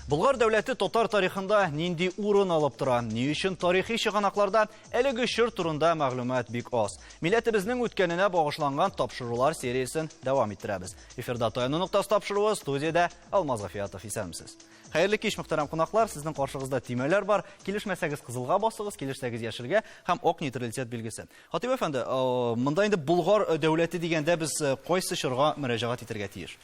Болгар дәүләте татар тарихында нинди урын алып тора? Ни өчен тарихи чыганакларда әлеге чор турында мәгълүмат бик аз? Милләтебезнең үткәненә багышланган тапшырулар сериясен дәвам иттерәбез. Эфирда Таяну ноктасы тапшыруы студиядә Алмаз Гафиятов исәнмесез. Хәерле кич, мөхтәрәм кунаклар. Сезнең каршыгызда төймәләр бар. Килешмәсәгез кызылга басыгыз, килешсәгез яшелгә һәм ок нейтралитет билгесе. Хатыйп әфәнде, монда инде Болгар э, дәүләте дигәндә без э, кайсы чорга мөрәҗәгать итәргә тиеш?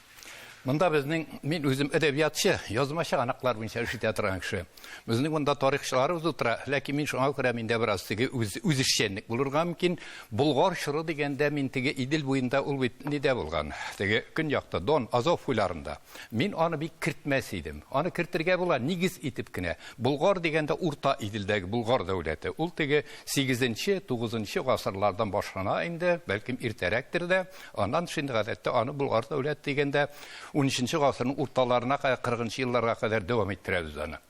Монда безнең, мин үзем әдәбиятчы, язмачы анаклар буенча эш итә торган кеше. Безнең монда тарихчыларыбыз утыра, ләкин мин шуңа күрә миндә бераз теге үз, үзешчәнлек булырга мөмкин. Болгар чоры дигәндә мин теге Идел буенда ул бит нидә булган? Теге көньякта Дон, Азов буйларында. Мин аны бик кертмәс идем. Аны кертергә була, нигез итеп кенә. Болгар дигәндә Урта Иделдәге Болгар дәүләте. Ул теге 8-нче, 9-нчы гасырлардан башлана инде, бәлкем иртәрәктер дә. Аннан шундый гадәттә аны Болгар дәүләте дигәндә 13-нче гасырның урталарына кадәр, 40-нчы елларга кадәр дәвам иттерәбез аны.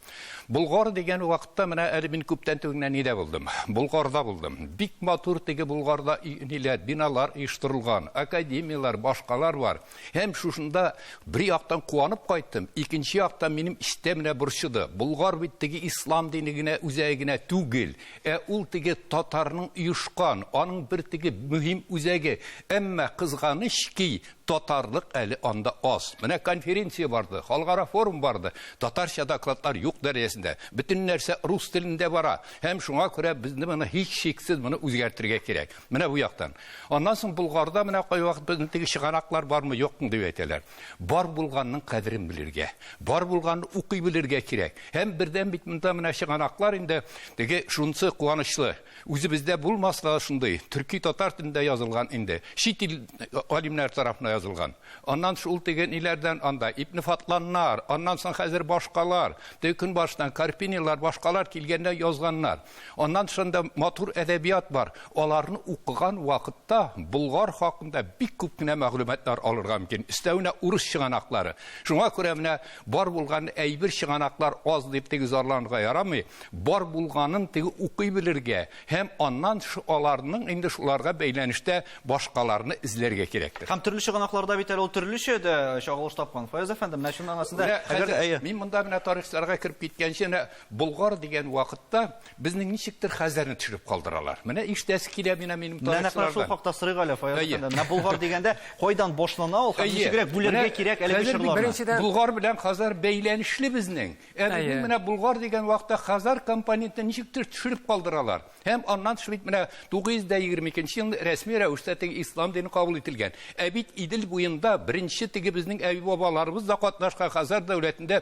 Болгар дигән вакытта менә әле мин күптән түгел генә нидә булдым? Болгарда булдым. Бик матур теге Болгарда ниләр, биналар оештырылган, академияләр, башкалар бар. Һәм шушында бер яктан куанып кайттым, икенче яктан минем истә менә борчыды. Болгар бит теге ислам дине генә үзәге генә түгел, ә ул теге татарның оешкан, аның бер теге мөһим үзәге. Әмма кызганыч ки, Татарлык әле анда аз. Менә конференция барды, халыкара форум барды. Татарча докладлар юк дәрәҗәсендә. Бөтен нәрсә рус телендә бара. Һәм шуңа күрә безне моны һичшиксез моны үзгәртергә кирәк. Менә бу яктан. Аннан соң Болгарда менә кайвакыт безнең теге чыганаклар бармы, юкмы дип әйтәләр. Бар булганның кадерен белергә, бар булганны укый белергә кирәк. Һәм бердән бит монда менә чыганаклар инде теге шунысы куанычлы. Үзебездә булмаска шундый, төрки татар телендә язылган инде, чит ил алимнәр тарафына язылган. Аннан шул теге ниләрдән анда Ибне Фатланнар, аннан соң хәзер башкалар, теге көнбашыдан Карпинилар, башкалар килгәндә язганнар. Аннан шунда матур әдәбият бар. Аларны укыган вакытта Болгар хакында бик күп кенә мәгълүматлар алырга мөмкин. Өстәвенә урыс чыганаклары. Шуңа күрә менә Бар булган әйбер чыганаклар аз дип теге зарланырга ярамый, бар булганын теге укый белергә һәм аннан аларның инде шуларга бәйләнештә башкаларны эзләргә кирәктер. Һәм төрле чыганакларда бит әле ул төрлечә дә чагылыш тапкан. Фаяз әфәнде, менә чын мәгънәсендә, әгәр әйе. Мин монда менә тарихчыларга кереп киткәнче, менә Болгар дигән вакытта Безнең ничектер хәзәрне төшереп калдыралар. Менә иштәсе килә менә минем тарихчылардан. Менә шул хакта сорыйк әле, Фаяз әфәнде. Менә Болгар дигәндә кайдан башлана ул һәм ничегрәк бүләргә кирәк әлеге чорларны? Беренчедән, Болгар белән Хазар бәйләнешле безнең. Ә безнең менә Болгар дигән вакытта Хазар компонентын ничектер төшереп калдыралар. Һәм аннан тыш бит менә 922 елны рәсми рәвештә теге ислам дине кабул ителгән. Ә бит Идел буенда беренче теге безнең әби-бабаларыбыз да катнашкан Хазар дәүләтендә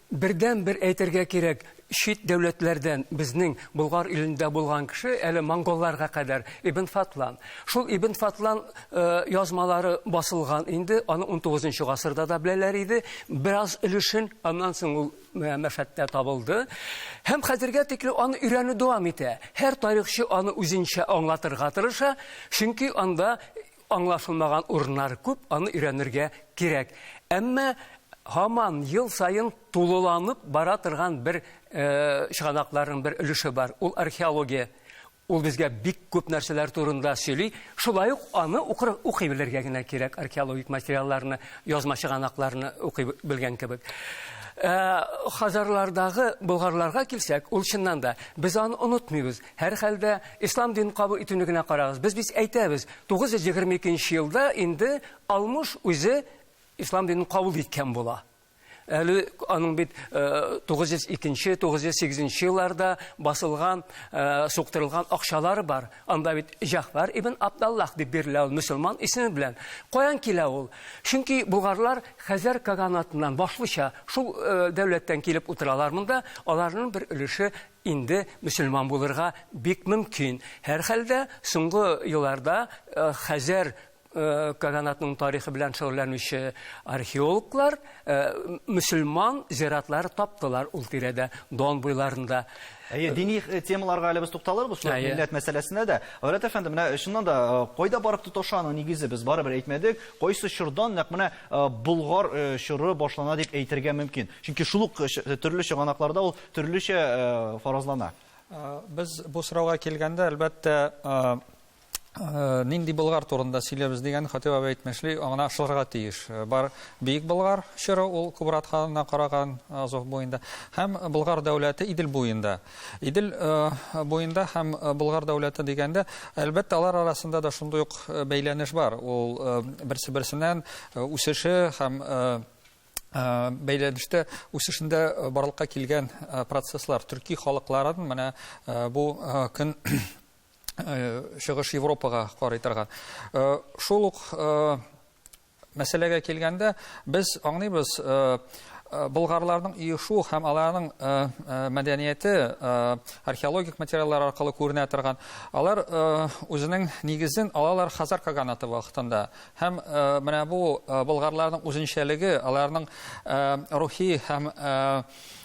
Бердәнбер әйтергә кирәк, чит дәүләтләрдән безнең Болгар илендә булган кеше, әле монголларга кадәр, Ибн Фатлан. Шул Ибн Фатлан язмалары басылган инде, аны унтугызынчы гасырда да беләләр иде, бераз өлешен, аннан соң ул Мәшәттә табылды. Һәм хәзергә тикле аны өйрәнү дәвам итә. Һәр тарихчы аны үзенчә аңлатырга тырыша, чөнки анда Аңлашылмаган урыннары күп, аны өйрәнергә кирәк. Әмма һаман ел саен тулыланып бара торган бер чыганакларның бер өлеше бар, ул археология. Ул безгә бик күп нәрсәләр турында сөйли. Шулай ук аны укый белергә генә кирәк, археологик материалларны, язма чыганакларны укый белгән кебек. Хазарлардагы болгарларга килсәк, ул чыннан да, без аны онытмыйбыз. Һәрхәлдә, ислам динен кабул итүне генә карагыз. Без бит әйтәбез, 922 нче елда инде Алмуш үзе ислам динен кабул иткән була. Әле аның бит 902 нче, 908 нче елларда басылган, суктырылган акчалары бар. Анда бит Җәгъфәр ибн Абдаллах дип бирелә ул мөселман исеме белән. Каян килә ул? Чөнки болгарлар Хәзәр каганатыннан, башлыча, шул дәүләттән килеп утыралар монда, аларның бер өлеше Инде мөселман булырга бик мөмкин. Һәрхәлдә, соңгы елларда Хәзәр каганатының тарихы белән шөгыльләнүче археологлар мөселман зиратлары таптылар ул тирәдә, Дон буйларында. Әйе, дини темаларга әле без тукталырбыз, шулай ук милләт мәсьәләсенә дә. Гайрәт әфәнде, менә чыннан да, кайда барып тоташа аның нигезе, без барыбер әйтмәдек, кайсы чордан, нәкъ менә Болгар чоры башлана дип әйтергә мөмкин. Чөнки шул ук төрле чыганакларда ул төрлечә фаразлана. Без бу сорауга килгәндә, әлбәттә, Э, нинди Болгар турында сөйләбез дигән Хатип абый әйтмешли, аңына ышылырга тиеш. Э, бар Бөек Болгар чоры ул Кубрат ханына караган э, Азов буенда һәм Болгар дәүләте Идел буенда. Идел буенда һәм Болгар дәүләте дигәндә, әлбәттә, алар арасында да шундый ук бәйләнеш бар. Ул берсе-берсеннән үсеше һәм Э, бәйләнештә үсешендә э, барлыкка килгән э, процесслар төрки халыкларын менә бу көн чыгыш Европага карый торган. Шул ук мәсьәләгә килгәндә без аңлыйбыз болгарларның иешу һәм аларның мәдәнияте археологик материаллар аркылы күренә торган. Алар үзенең нигезен алалар Хазар каганаты вакытында. Һәм менә бу болгарларның үзенчәлеге, аларның рухи һәм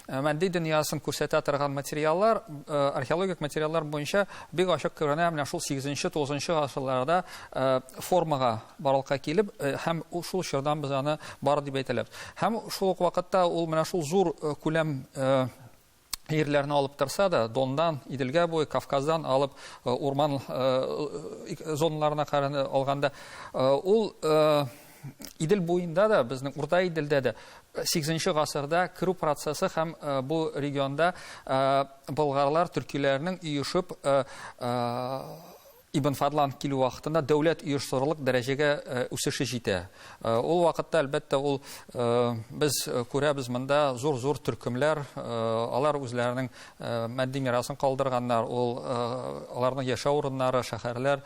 матди дөньясын күрсәтә торган материаллар, археологик материаллар буенча бик ачык күренә менә шул 8-9 гасырларда формага барлыкка килеп һәм шул чордан без аны бар дип әйтәләбез. Һәм шул ук вакытта ул менә шул зур күләм ирләрне алып торса да, Дондан, Иделгә буе, Кавказдан алып урман зоналарына караны алганда, ул Идел буенда да, безнең Урта Иделдә дә 8 гасырда керү процессы һәм бу регионда болгарлар, төркиләрнең оешып Ибн Фадлан килү вакытында дәүләт оешсырырлык дәрәҗәгә үсеше җитә. Ул вакытта, әлбәттә, ул без күрәбез монда зур-зур төркемләр, алар үзләренең матди мирасын калдырганнар, ул аларның яшәү урыннары, шәһәрләр,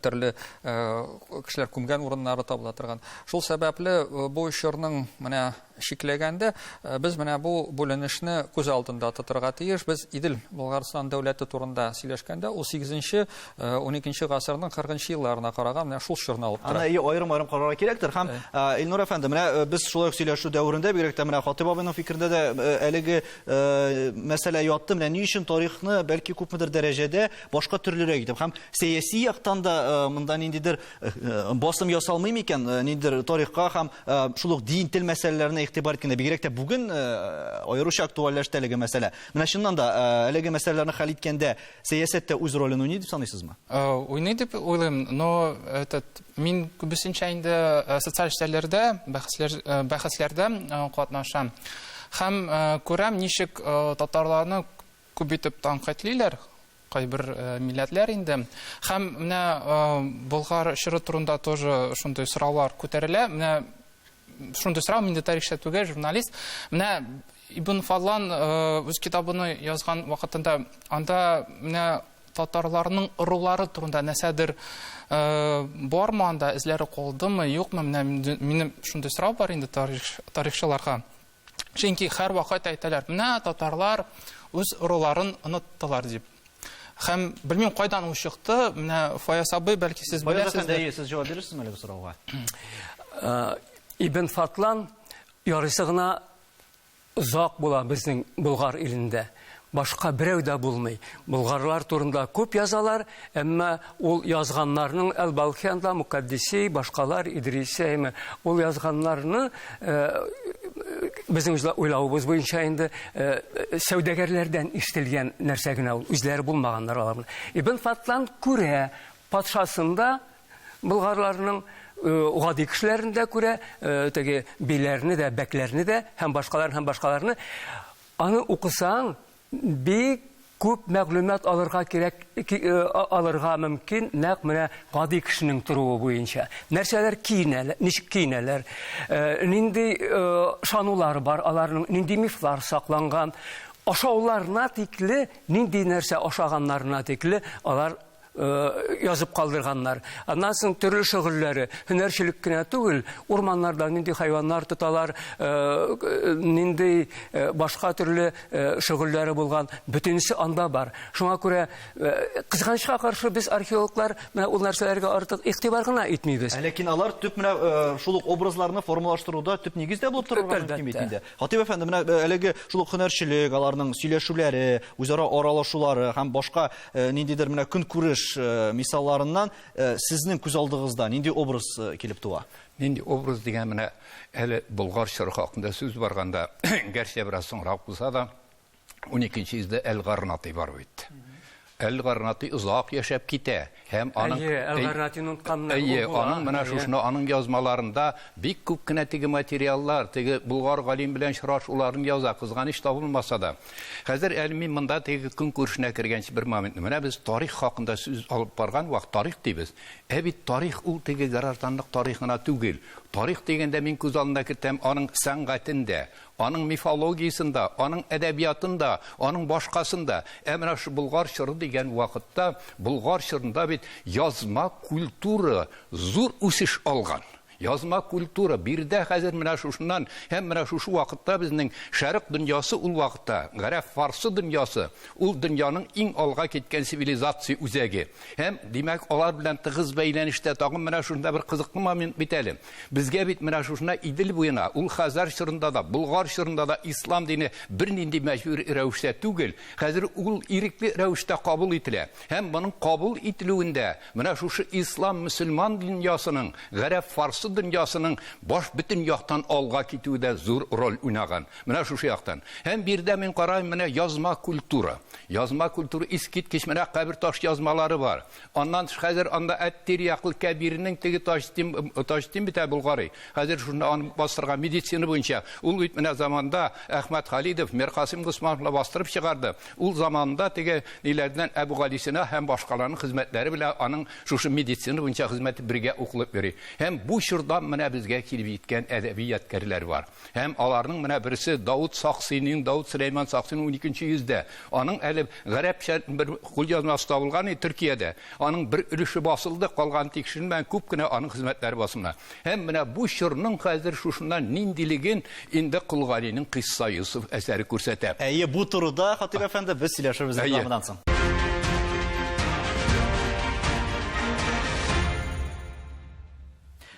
төрле кешеләр күмгән урыннары табыла торган. Шул сәбәпле бу чорның менә Чикләгәндә, без менә бу бүленешне күз алдында тотырга тиеш. Без Идел Болгарстан дәүләте турында сөйләшкәндә, ул 8-нче, 12-нче гасырның 40-нчы елларына караган менә шул чорны алып тора. Аны аерым-аерым карарга кирәктер. Һәм, Илнур әфәнде, менә без шулай ук сөйләшү дәверендә, бигрәк тә менә Хатыйп абыйның фикерендә дә әлеге мәсьәлә ятты. Менә ни өчен тарихны, бәлки, күпмедер дәрәҗәдә башка төрлерәк итеп һәм сәяси яктан да монда ниндидер Басым ясалмый микән э, ниндидер тарихка һәм э, шул ук дин, тел мәсьәләләренә игътибар иткәндә, бигрәк тә бүген э, аеруча актуальләште әлеге мәсьәлә. Менә чыннан да әлеге мәсьәләләрне хәл иткәндә сәясәттә үз ролен уйный дип саныйсызмы? Уйный дип уйлыйм, но этот мин күбесенчә инде социаль эшләрләрдә, бәхәсләр бәхәсләрдә катнашам. Һәм күрәм, ничек татарларны Күп итеп тәнкыйтьлиләр кайбер милләтләр инде. Һәм менә Болгар чоры турында тоже шундый сораулар күтәрелә. Менә шундый сорау, мин дә тарихчы түгел, журналист. Менә Ибн Фадлан үз китабыны язган вакытында анда менә татарларның ырулары турында нәрсәдер бармы анда, эзләре калдымы, юкмы? Менә минем шундый сорау бар инде тарихчыларга. Чөнки һәрвакыт әйтәләр, менә татарлар үз роларын оныттылар дип. Хәм белмим кайдан ул чыкты, менә Фаяс абый, бәлки сез беләсез. Бәлки сез җавап бирерсез әле бу сорауга. Э, Ибн Фатлан ярыйсы гына озак була безнең Болгар илендә. Башка берәү дә булмый. Болгарлар турында күп язалар, әмма ул язганнарның әл-Балхианда, Мукаддиси, башкалар, Идриси, әйме, ул язганнарны, безнең уйлавыбыз буенча инде, сәүдәгәрләрдән ишетелгән нәрсә генә ул, үзләре булмаганнар аларның. Ибн Фатлан күрә, патшасын да, болгарларның гади кешеләрен дә күрә, теге биләрне дә, бәкләрне дә һәм башкаларны, һәм башкаларны. Аны укысаң, бик күп мәгълүмат алырга кирәк, алырга мөмкин, нәкъ менә гади кешенең торуы буенча. Нәрсәләр киенәләр, ничек киенәләр, нинди ышанулар бар аларның, нинди мифлар сакланган, ашауларына тикле, нинди нәрсә ашаганнарына тикле алар Э, язып калдырганнар. Аннан соң төрле шөгыльләре, һөнәрчелек кенә түгел, урманнарда нинди хайваннар тоталар, э, нинди э, башка төрле шөгыльләре булган, бөтенесе анда бар. Шуңа күрә кызганычка каршы без археологлар менә ул нәрсәләргә артык игътибар гына итмибез. Ләкин алар төп менә шул ук образларны формалаштыруда төп нигез дә булып торырга мөмкин бит инде. Хатип әфәнде, менә әлеге шул ук һөнәрчелек, аларның сөйләшүләре, үзара аралашулары һәм башка Э, ниндидер менә көнкүреш э, мисалларыннан э, сезнең күз алдыгызда нинди образ килеп туа нинди образ дигән менә әле болгар чоры хакында сүз барганда гәрчә бераз соңрак булса да уникенче йөздә әл гарнатый бар бит әл гарнатый озак яшәп китә һәм аның әл гарнатыйны онытканнар әйе аның менә шушны аның язмаларында бик күп кенә теге материаллар теге болгар галим белән очрашуларын яза кызганыч табылмаса да Хәзер әле мин монда теге көн күршенә кергәнче бер момент. Менә без тарих хакында сүз алып барган вакыт тарих дибез. Ә бит тарих ул теге гражданлык тарихына түгел. Тарих дигәндә мин күз алдына кертәм аның сәнгатендә, аның мифологиясендә, аның әдәбиятында, аның башкасында. Ә менә шу Болгар чоры дигән вакытта Болгар чорында бит язма культура зур үсеш алган. Язма культура, биредә хәзер менә шушыннан һәм менә шушы вакытта безнең Шәрык дөньясы ул вакытта, гарәп-фарсы дөньясы, ул дөньяның иң алга киткән цивилизация үзәге. Һәм, димәк, алар белән тыгыз бәйләнештә тагын менә шушында бер кызыклы момент бит әле. Безгә бит менә шушына Идел буена, ул Хәзәр чорында да, Болгар чорында да ислам дине бернинди мәҗбүр рәвештә түгел, хәзер ул ирекле рәвештә кабул ителә. Һәм моның кабул ителүендә, Менә шушы ислам мөселман дөньясының, гарәп фарсы дөньясының баш бөтен яктан алга китүедә зур роль уйнаган. Менә шушы яктан. Һәм бирдә мин карайм, менә язма культура. Язма культура искиткеч менә кабер таш язмалары бар. Аннан тыш хәзер анда Әттир яклы Кәбирнең теге Таҗтим Таҗтим бит ә Булгари. Хәзер шуны аны бастырган медицина буенча. Ул бит менә заманда Әхмәт Халидов, Миркасыйм Госманов бастырып чыгарды. Ул заманында теге ниләрдән Әбүгалисина һәм башкаларның хезмәтләре белән аның шушы медицина буенча хезмәте бергә укылып йөри. Һәм бу чордан менә безгә килеп җиткән әдәби ядкәрләр бар. Һәм аларның менә берсе Даут Саксиниң, Даут Сөләйман Саксиның уникенче йөздә. Аның әле гарәпчә бер кулъязмасы табылган иде Төркиядә. Аның бер өлеше басылды, калганы тикшеренмәгән, күп кенә аның хезмәтләре басылмаган. Һәм менә бу чорның хәзер шушыннан ниндилеген инде Кол Галинең Кыйсса Йосыф әсәре күрсәтә. Әйе, бу турыда, Хатыйп әфәнде, без сөйләшербез рекламадан соң.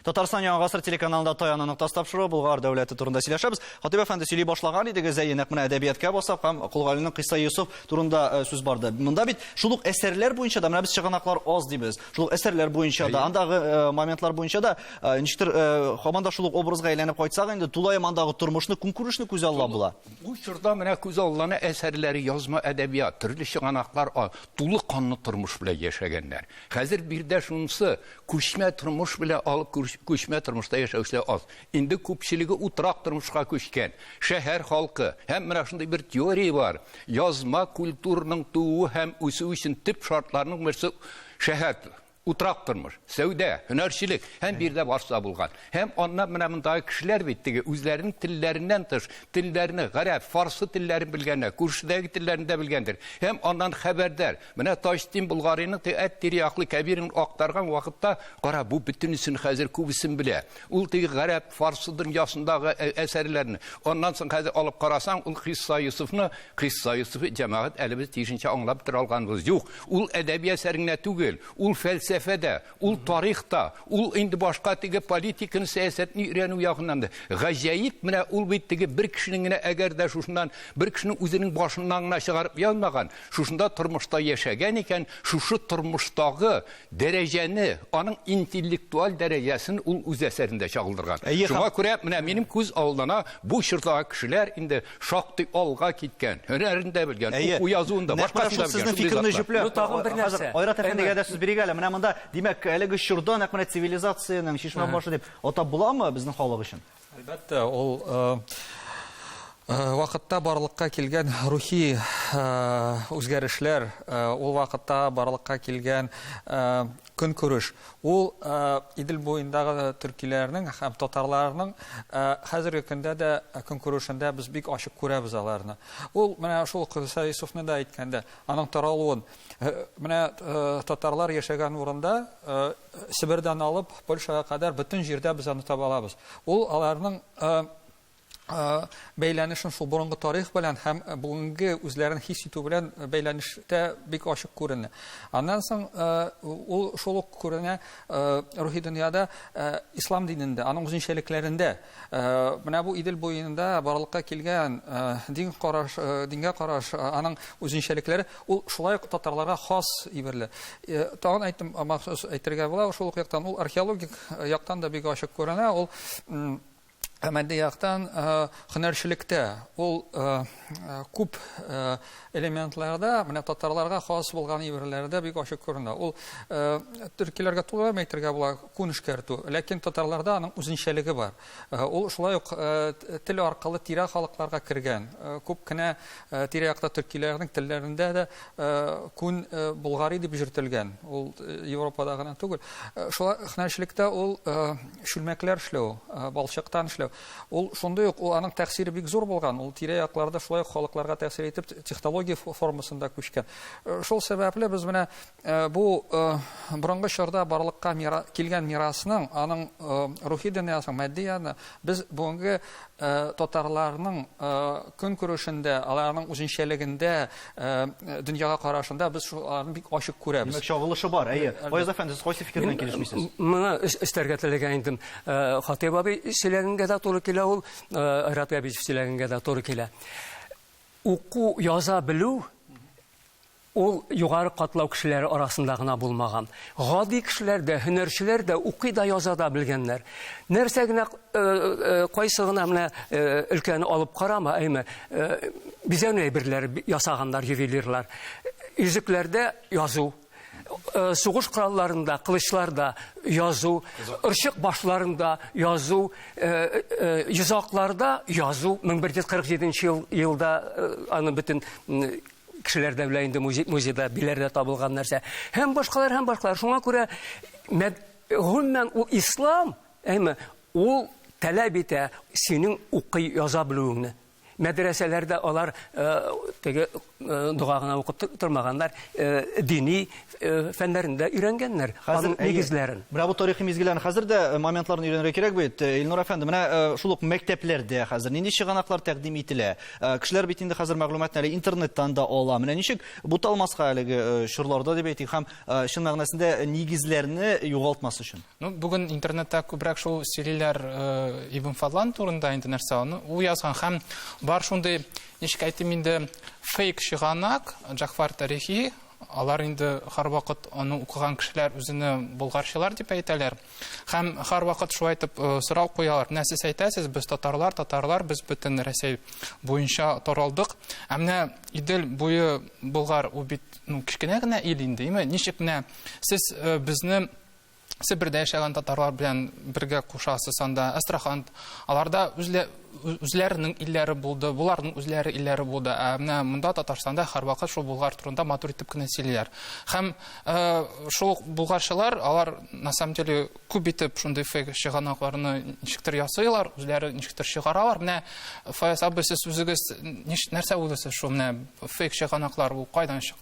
Татарстан Яңа гасыр телеканалында Таяны ноктасы тапшыруы Болгар дәүләте турында сөйләшәбез. Хатыйп әфәнде сөйли башлаган идегез, әйе, нәкъ менә әдәбияткә басып һәм Кол Галинең Кыйсса Йосыф турында э, сүз барды. Монда бит шул ук әсәрләр буенча да менә без чыганаклар аз дибез. шул әсәрләр буенча да, андагы э, моментлар буенча да, э, ничектер, э, хаман да шул образга әйләнеп кайтсак инде, тулаем андагы тормышны, көнкүрешне күз алла була. Бу чорда менә күз алланы әсәрләре, язма әдәбият, төрле чыганаклар, тулы канлы тормыш белән яшәгәннәр. Хәзер бирдә шунысы, күчмә тормыш белән алып күчмә тормышта яшәүчеләр аз. Инде күпчелеге утрак тормышка күчкән, шәһәр халкы. Һәм менә шундый бер теория бар. Язма культурның тууы һәм үсүе өчен төп шартларның берсе шәһәр утрак тормыш, сәүдә, һөнәрчелек һәм бирдә барса булган. Һәм аннан менә мондагы кешеләр бит теге үзләренең телләреннән тыш, телләрне, гарәп, фарсы телләрен белгәннәр, күршедәге телләрен дә белгәндер. Һәм аннан хәбәрдар. Менә Таҗтин Болгарыйның теге әт тирәяклы кәбирен актарган вакытта, кара, бу бөтенесен хәзер күбесен белә. Ул теге гарәп фарсы дөньясындагы әсәрләрне. Аннан соң хәзер алып карасаң, ул Хисса Юсуфны, Хисса Юсуфы җәмәгать әле без тиешенчә аңлап тора алганбыз юк. Ул әдәби әсәр генә түгел, ул фәлсәфә дә, ул тарих та, ул инде башка теге политиканы, сәясәтне өйрәнү ягыннан да. Гаҗәеп, менә ул бит теге бер кешенең генә әгәр дә шушыннан бер кешенең үзенең башыннан гына чыгарып язмаган, шушында тормышта яшәгән икән, шушы тормыштагы дәрәҗәне, аның интеллектуаль дәрәҗәсен ул үз әсәрендә чагылдырган. Әйе, Шуңа һәм... күрә менә минем күз алдына бу чордагы кешеләр инде шактый алга киткән, һөнәрен дә белгән, уку язуын да, башкасын да белгән. Фикерне җөпләп, ну, тагын бер нәрсә. Айрат әфәндегә дә сүз бирик әле. Менә монда, димәк, әлеге чорда нәкъ менә цивилизациянең чишмә башы дип атап буламы безнең халык өчен? Әлбәттә, ул вакытта барлыкка килгән рухи үзгәрешләр, ул вакытта барлыкка килгән көнкүреш, ул Идел буендагы төркиләрнең һәм татарларның хәзерге көндә дә көнкүрешендә без бик ачык күрәбез аларны. Ул менә шул Кыса Йосыфны да әйткәндә, аның таралуын, Э, менә э, татарлар яшәгән урында э, себердән алып польшага кадәр бөтен җирдә без аны таба алабыз ул аларның бәйләнешен шул борынгы тарих белән һәм бүгенге үзләрен хис итү белән бәйләнештә бик ачык күренә аннан соң ул шул ук күренә рухи дөньяда ислам динендә аның үзенчәлекләрендә Менә бу Идел буенда барлыкка килгән дин караш, дингә караш, аның үзенчәлекләре, ул шулай ук татарларга хас иберле. Тагын әйтем, махсус әйтергә була, шул ук яктан ул археологик яктан да бик ачык күренә, ул Ә матди яктан һөнәрчелектә ул Э, күп э, элементларда менә татарларга хас булган иберләрдә бик ачык күренә ул э, төркиләргә туры әйтергә була күн эшкәртү ләкин татарларда аның үзенчәлеге бар ул шулай ук тел аркылы тирә халыкларга кергән күп кенә тирә якта төркиләрнең телләрендә дә күн болгари дип йөртелгән ул европада гына түгел шулай һөнәрчелектә ул чүлмәкләр эшләү балчыктан эшләү Ул шундый ук, ул аның тәэсире бик зур булган, ул тирә-якларда шулай ук халыкларга тәэсир итеп те- технология фо- формасында күчкән. Э, Шул сәбәпле без менә э, бу э, борынгы чорда барлыкка мира- килгән мирасның, аның э, рухи дөньясының, матди яны без бүгенге э, татарларның э, көнкүрешендә, аларның үзенчәлегендә, Э, дөньяга карашында без шуларны бик ачык күрәбез. Димәк, чагылышы бар, әйе. Э, Фаяз әфәнде, сез кайсы фикер белән килешмисез? Моны эстәргә теләгән идем. Э, Хатыйп абый сөйләгәнгә дә туры килә ул, Рат Габидов сөйләгәнгә дә туры килә. Уку яза белү ул югары катлау кешеләре арасында гына булмаган. Гади кешеләр дә, һөнәрчеләр дә укый да яза да белгәннәр. Нәрсә генә э, э, кайсы гына менә э, өлкәне алып карама, әйме, бизәнү әйберләре ясаганнар ювелирлар. Йөзекләрдә язу, сугыш коралларында, кылычларда язу, ырчык башларында язу, йозакларда язу, 1147 елда аны бөтен кешеләр дә белә инде музей, музейда биләрдә табылган нәрсә һәм башкалар һәм башкалар шуңа күрә гомумән ул ислам әйме ул таләп итә синең укый яза белүеңне мәдрәсәләрдә алар э, теге э, дога гына укып тормаганнар э, дини фәннәрендә өйрәнгәннәр аның нигезләрен менә бу тарихи мизгелләрне хәзер дә моментларын өйрәнергә кирәк бит илнур әфәнде менә шул ук мәктәпләрдә хәзер нинди чыганаклар тәкъдим ителә Э, кешеләр бит инде хәзер мәгълүматны әле интернеттан да ала менә ничек буталмаска әлеге э, чорларда дип әйтик һәм э, чын мәгънәсендә нигезләрне югалтмас өчен ну бүген интернетта күбрәк шул сөйлиләр ибн фадлан турында инде нәрсә аны ул язган һәм бар шундый ничек әйтим инде фейк чыганак җафар тарихи алар инде һәрвакыт аны укыган кешеләр үзенә болгарчылар дип әйтәләр Һәм һәрвакыт шулай итеп э, сорау куялар. Менә сез әйтәсез, без татарлар, татарлар, без бөтен Рәсәй буенча таралдык. Ә менә Идел буе Болгар ул бит ну, кечкенә генә ил инде, име? Ничек менә сез э, безне Себердә яшәгән татарлар белән бергә кушасыз анда, Астрахан. Аларда үзле үзләренең илләре булды, буларның үзләре илләре булды. Ә менә монда Татарстанда һәрвакыт шул Булгар турында матур итеп кенә сөйлиләр. Һәм э, шул булгарчылар, алар на самом деле күп итеп шундый фейк чыганакларны ничектер ясыйлар, үзләре ничектер чыгаралар. Менә Фаяз абый сез үзегез нәрсә уйлыйсыз шул менә фейк чыганаклар ул кайдан чыга?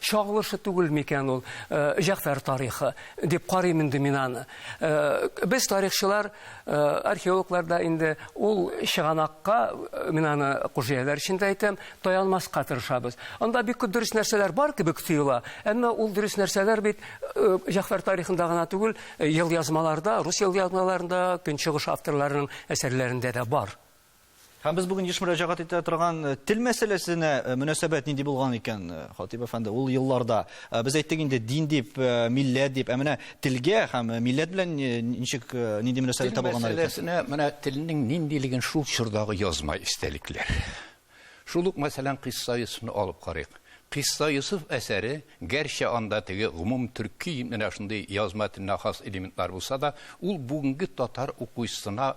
Чагылышы түгел микән ул Җәгъфәр тарихы, дип карыйм инде мин аны. Без тарихчылар, археологлар да инде ул чыганакка, мин аны Кужияләр өчен дә әйтәм, таянмаска тырышабыз. Анда бик күп дөрес нәрсәләр бар кебек тоела, әмма ул дөрес нәрсәләр бит Җәгъфәр тарихында гына түгел, елъязмаларда, рус елъязмаларында, көнчыгыш авторларының әсәрләрендә дә бар. Һәм без бүген еш мөрәҗәгать итә торган э, тел мәсьәләсенә э, мөнәсәбәт нинди булган икән, э, Хатип әфәнде, ул елларда без әйттек инде дин дип, милләт дип, ә менә телгә һәм милләт белән ничек нинди мөнәсәбәт табылганнар икән? Мәсьәләсенә менә телнең ниндилеген шул чордагы язма истәлекләр. Шул ук мәсәлән Кыйсса Юсуфны алып карыйк. Кыйсса Юсуф әсәре, гәрчә анда теге гомум төрки менә шундый язма теленә хас элементлар булса да, ул бүгенге татар укучысына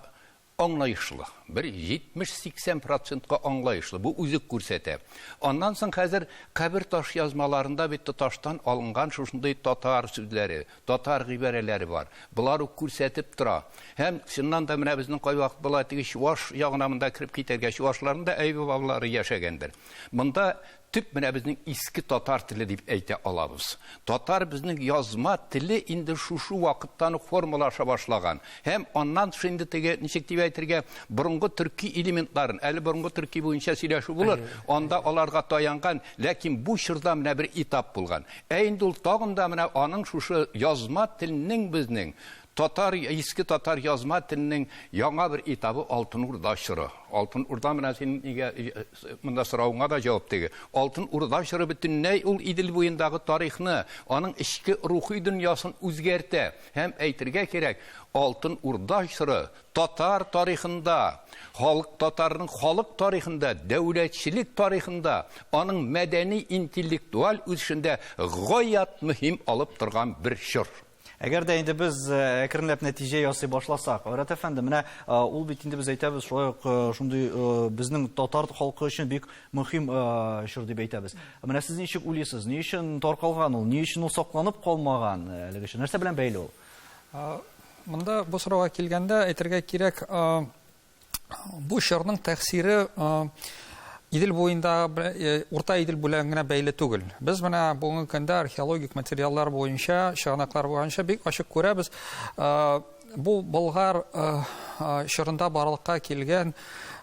Аңлаешлы. Бер 70-80 процентка аңлаешлы. Бу үзе күрсәтә. Аннан соң хәзер кабер ташъязмаларында бит тоташтан алынган шушындый татар сүзләре, татар гыйбарәләре бар. Болар ук күрсәтеп тора. Һәм, чыннан да, менә безнең кайвакыт болай теге чуваш ягына монда кереп китәргә, чувашларның да әйбер бабалары яшәгәндер. Монда Төп менә безнең иске татар теле дип әйтә алабыз. Татар безнең язма теле инде шушы вакыттан ук формалаша башлаган. Һәм аннан тыш инде теге, ничек дип әйтергә, борынгы төрки элементларын, әле борынгы төрки буенча сөйләшү булыр, анда аларга таянган, ләкин бу чорда менә бер этап булган. Ә инде ул тагын да менә аның шушы язма телнең безнең Татар, иске татар язма теленең яңа бер этабы Алтын Урда чоры. Алтын Урда менә синең нигә монда соравыңа да җавап теге. Алтын Урда чоры бөтенләй ул Идел буендагы тарихны, аның эчке рухи дөньясын үзгәртә. Һәм әйтергә кирәк, Алтын Урда чоры татар тарихында, халык татарның халык тарихында, дәүләтчелек тарихында, аның мәдәни-интеллектуаль үсешендә гаять мөһим алып торган бер чор. Әгәр дә инде без э, әкренләп нәтиҗә ясый башласак, Айрат әфәнде, менә э, ул бит инде без әйтәбез, шулай ук э, шундый безнең татар халкы өчен бик мөһим чор дип әйтәбез. Менә сез ничек уйлыйсыз, ни өчен таркалган ул, ни өчен ул сакланып калмаган әлеге чор? Нәрсә белән бәйле ул? Монда бу сорауга килгәндә әйтергә кирәк, Бу чорның тәэсире Идел буенда урта Идел белән генә бәйле түгел. Без менә бүгенге көндә археологик материаллар буенча, чыганаклар буенча бик ачык күрәбез. Бу Болгар чорында барлыкка килгән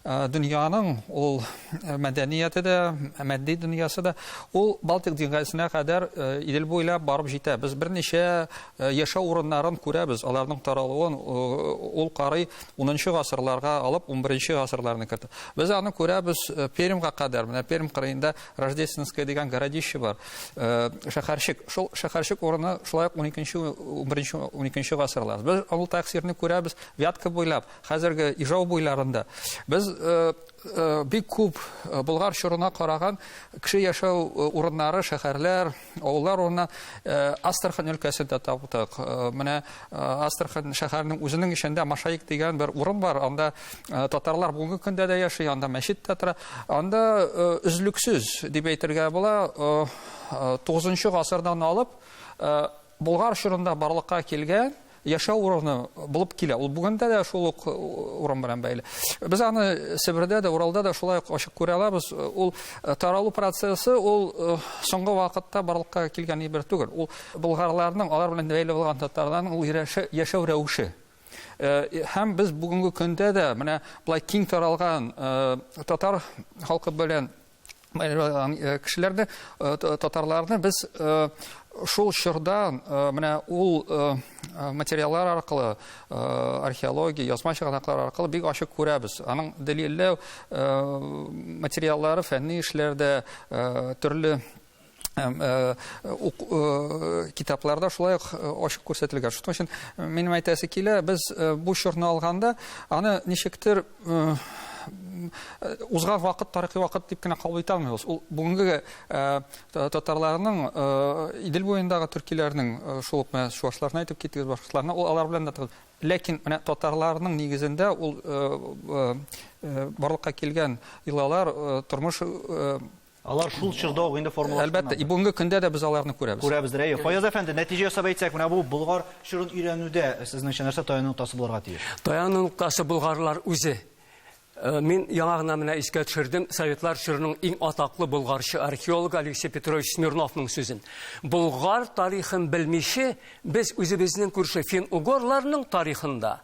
дөньяның ул мәдәнияте дә, мәдди дөньясы да ул Балтик диңгезенә кадәр Идел буйлап барып җитә. Без берничә яшәү урыннарын күрәбез, аларның таралуын ул карый Унынчы гасырларга алып, унберенче гасырларны кертеп. Без аны күрәбез э, Пермьга кадәр. Менә Пермь кырыенда Рождественское дигән городище бар. Э, шәһәрчек. Шул шәһәрчек урыны шулай ук 12-нче, 11-нче, 12-нче гасырлар. Без ул тәэсирне күрәбез Вятка буйлап, хәзерге Ижау буйларында. Без э, Бик күп Болгар чорына караган кеше яшәү урыннары, шәһәрләр, авыллар урынына Астрахань өлкәсен дә таптык. Менә Астрахань шәһәренең үзенең эчендә Машаик дигән бер урын бар. Анда татарлар бүгенге көндә дә яши, анда мәчет тә тора. Анда өзлексез дип әйтергә була, 9 гасырдан алып Болгар чорында барлыкка килгән яшәү урыны булып килә. Ул бүгендә дә шул ук урын белән бәйле. Без аны Себердә дә, Уралда да шулай ук ачык күрә алабыз. Ул э, таралу процессы ул э, соңгы вакытта барлыкка килгән бер түгел. Ул болгарларның, алар белән бәйле булган татарларның ул яшәү рәвеше э, һәм без бүгенге көндә дә менә былай киң таралган татар халкы белән Э, кешеләрне э, татарларны без э, шул чорда менә ул материаллар аркылы археология язма чыганаклар аркылы бик ачык күрәбез аның дәлилләү материаллары фәнни эшләрдә төрле Һәм э, ук, э, китапларда шулай ук э, ачык күрсәтелгән. Шуның өчен минем әйтәсе килә, без бу чорны алганда, аны ничектер узган вакыт тарихи вакыт дип кенә кабул итә алмыйбыз. Ул бүгенге татарларның Идел буендагы төркиләрнең шул ук менә чуашларны әйтеп киттегез, башкаларны ул алар белән дә ләкин менә татарларның нигезендә ул барлыкка килгән илалар тормыш Алар шул чорда ук инде формалашканнардыр. Әлбәттә, и бүгенге көндә дә без аларны күрәбез. Күрәбездер, әйе. Фаяз әфәнде, нәтиҗә ясап әйтсәк, менә бу Болгар чорын өйрәнүдә, сезнеңчә, нәрсә таяну ноктасы булырга тиеш? Таяну ноктасы болгарлар үзе. Мин яңа гына менә искә төшердем Советлар чорының иң атаклы болгарчы археологы Алексей Петрович Смирновның сүзен. Болгар тарихын белмиче, без үзебезнең күрше фин-угорларның тарихында,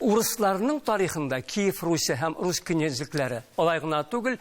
урысларның тарихында Киев Русе һәм рус князлекләре, алай гына түгел,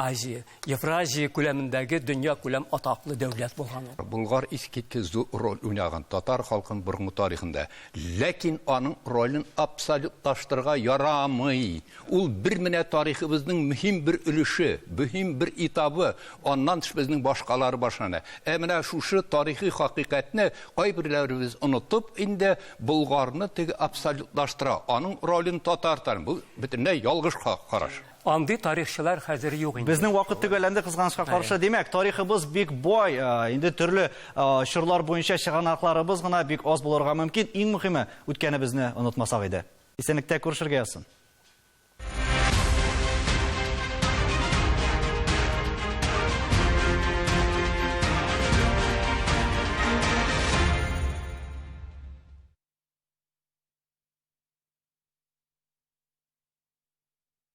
Азия, Евразия күләмендәге дөньякүләм атаклы дәүләт булган ул. Болгар искиткеч зур роль уйнаган татар халкының борынгы тарихында. Ләкин аның ролен абсолютлаштырырга ярамый. Ул бер менә тарихыбызның мөһим бер өлеше, мөһим бер этабы, аннан тыш безнең башкалары башлана. Ә менә шушы тарихи хакыйкатьне кайберләребез онытып инде Болгарны теге абсолютлаштыра, аның ролен татар, бу бөтенләй ялгыш караш. Андый тарихчылар хәзер юк инде. Безнең вакыт төгәлләнде кызганычка каршы. Димәк, тарихыбыз бик бай. Э, инде төрле э, чорлар буенча чыганакларыбыз гына бик аз булырга мөмкин. Иң мөһиме, үткәнебезне онытмасак иде. Исәнлектә күрешергә язсын.